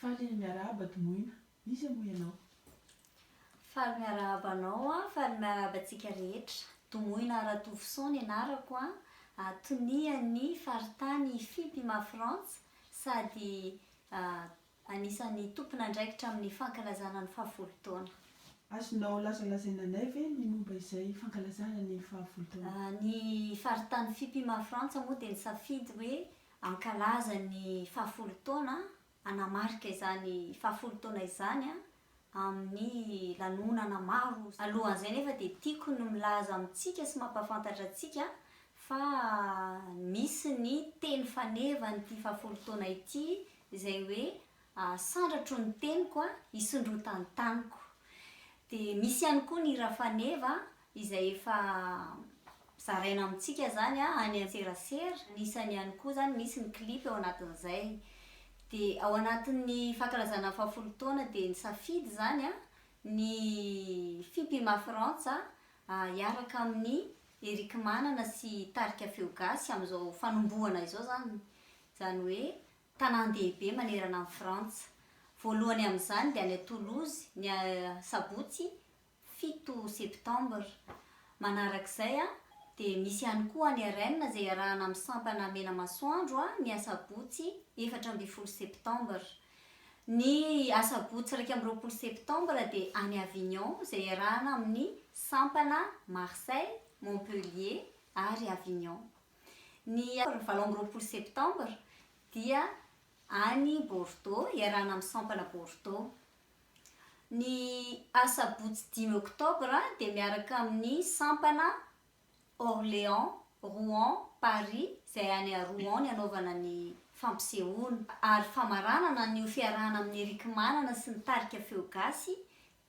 Faly miarahaba Dmoina. Iza moa ianao? Faly miarahaba anao an! Faly miarahaba antsika rehetra. Domoina Ratovison ny anarako an! Tonia ny faritany Fipima Frantsa sady anisan'ny tompon'andraikitra amin'ny fankalazana ny fahafolo taona. Azonao lazalazaina anay ve ny momba izay fankalazana ny fahafolo taona? Ny faritany Fipima Frantsa moa dia nisafidy hoe Hankalaza ny fahafolo taona, hanamarika izany fahafolo taona izany amin'ny lanonana maro. Alohan'izay anefa dia tiako ny milaza amintsika sy mampahafantatra antsika fa misy ny teny fanevan'ity fahafolo taona ity izay hoe Sandratro ny teniko, hisondrotany taniko. Dia misy ihany koa ny hira faneva izay efa zaraina amintsika izany any an-tserasera, anisany ihany koa izany misy ny clip ao anatin'izay. Dia ao anatin'ny fankalazana ny fahafolo taona dia nisafidy izany ny Fipima Frantsa hiaraka amin'i Erick Manana sy Tarika Feo Gasy amin'izao fanombohana izao izany, izany hoe tanàn-dehibe manerana an'i Frantsa. Voalohany amin'izany dia any Toulouse, ny sabotsy fito septembre. Manarak'izay dia misy ihany koa any Rennes izay iarahana amin'ny sampana Menamasoandro ny asabotsy efatra ambin'ny folo septembre. Ny asabotsy iraika amby roapolo septembre dia any Avignon izay iarahana amin'ny sampana Marseille, Montpellier ary Avignon. Ny valo amby roapolo septembre dia any Bordeaux iarahana amin'ny sampana Bordeaux. Ny asabotsy dimy oktobra dia miaraka amin'ny sampana Orléans, Rouen, Paris izay any à Rouen ny hanaovana ny fampisehoana. Ary famaranana an'io fiarahana amin'ny Eric Manana sy ny tarika Feo Gasy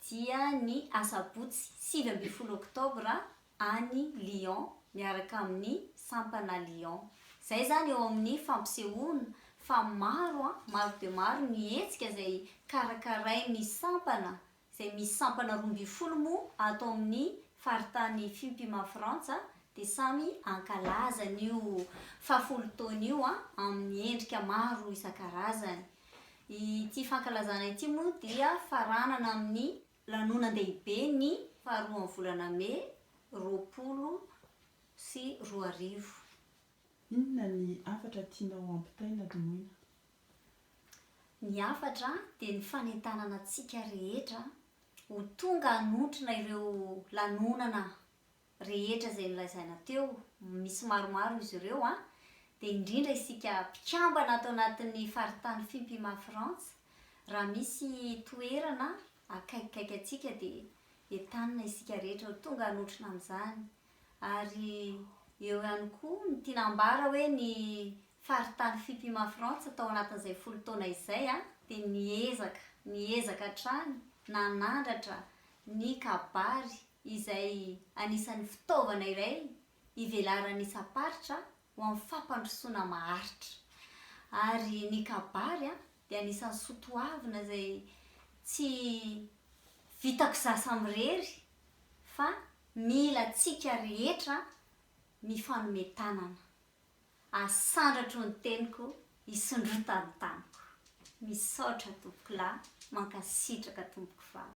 dia ny asabotsy sivy ambin'ny folo oktobra any Lyon miaraka amin'ny sampana Lyon. Izay izany eo amin'ny fampisehoana fa maro an, maro dia maro ny hetsika izay karakarain'ny sampana, izay misy sampana roa ambin'ny folo moa ato amin'ny faritany Fimpima Frantsa dia samy hankalaza an'io fahafolo taona io an, amin'ny endrika maro isan-karazany. Ity fankalazana ity moa dia faranana amin'ny Lanonan-dehibe ny faharoan'ny volana Mey roapolo sy roa arivo. Inona ny hafatra tianao hampitaina Domoina? Ny hafatra dia ny fanentanana antsika rehetra ho tonga hanontrona ireo lanonana rehetra izay nolazaina teo, misy maromaro izy ireo an, dia indrindra isika mpikambana ato anatin'ny faritany Fimpima Frantsa, raha misy toerana akaikikaiky antsika dia entanina isika rehetra ho tonga hanotrona amin'izany, ary eo ihany koa ny tiana ambara hoe ny faritany Fimpima Frantsa tao anatin'izay folo taona izay an, dia niezaka, niezaka hatrany nanandratra ny kabary, izay anisan'ny fitaovana iray ivelaran'ny isam-paritra ho amin'ny fampandrosoana maharitra. Ary ny kabary dia anisan'ny soatoavina izay tsy vitako izaho samy irery fa mila antsika rehetra mifanome tanana. Asandratro ny teniko, isondrota ny taniko. Misaotra tompokolahy, mankasitraka tompoko vavy.